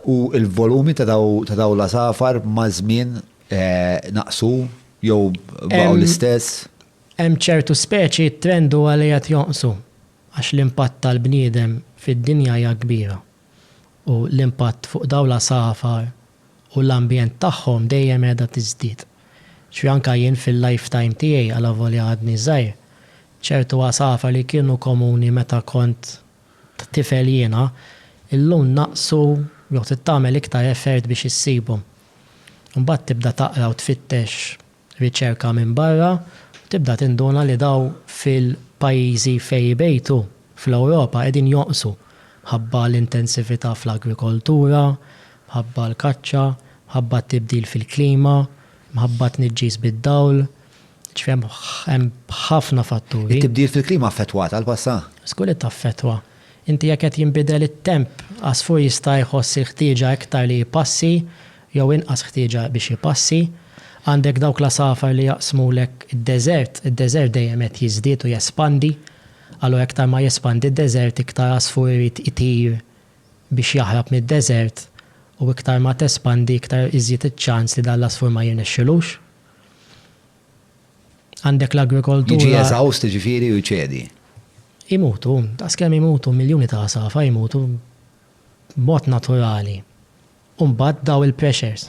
U l-volumi ta' dawn l-għasafar maż-żmien naqsu jew baqgħu l-istess? Hemm ċertu speċi t-trend huwa li qed jonqsu għax l-impatt tal-bniedem fid-dinja hija kbira u l-impatt fuq dawn l-għasafar u l-ambjent tagħhom dejjem qiegħda tiżdied. Ġifieri anke jien fil-lifetime tiegħi alavolja għadni żgħir, ċertu għasafar li kienu komuni meta kont tifel jiena, illum naqsu jew trid tagħmel iktar effert biex issibhom. Imbagħad tibda taqra u tfittex riċerka minn barra u tibda tinduna li dawn fil-pajjiżi fejn ibejtu fl-Ewropa qegħdin jonqsu mħabba l-intensività fl-agrikoltura, mħabba l-kaċċa, mħabba t-tibdil fil-klima, mħabba t-tniġġis bid-dawl. Ġifieri hemm ħafna fatturi. It-tibdil fil-klima affettwat għall-passa? Żgur li taffettwa. Inti jekk qed jinbidel it-temp, għasfur jista' jħoss il-ħtieġa iktar li jpassi jew inqas ħtieġa biex jpassi. Għandek dawk l-għasafar li jaqsmulek id-deżert, id-deżert dejjem qed jiżdied u jespandi, allura iktar ma jespandi d-deżert iktar għasfur irid itir biex jaħrab mid-deżert u iktar ma tespandi iktar iżjed iċ-ċans li dan l-għasfur ma jirnexxilux. Għandek l-agrikoltura. Jiġi eżawst jiġifieri u jċedi. Imutu, daqs kemm imutu miljuni ta' għasafar imutu b'mod naturali. U mbagħad daw il-pressures.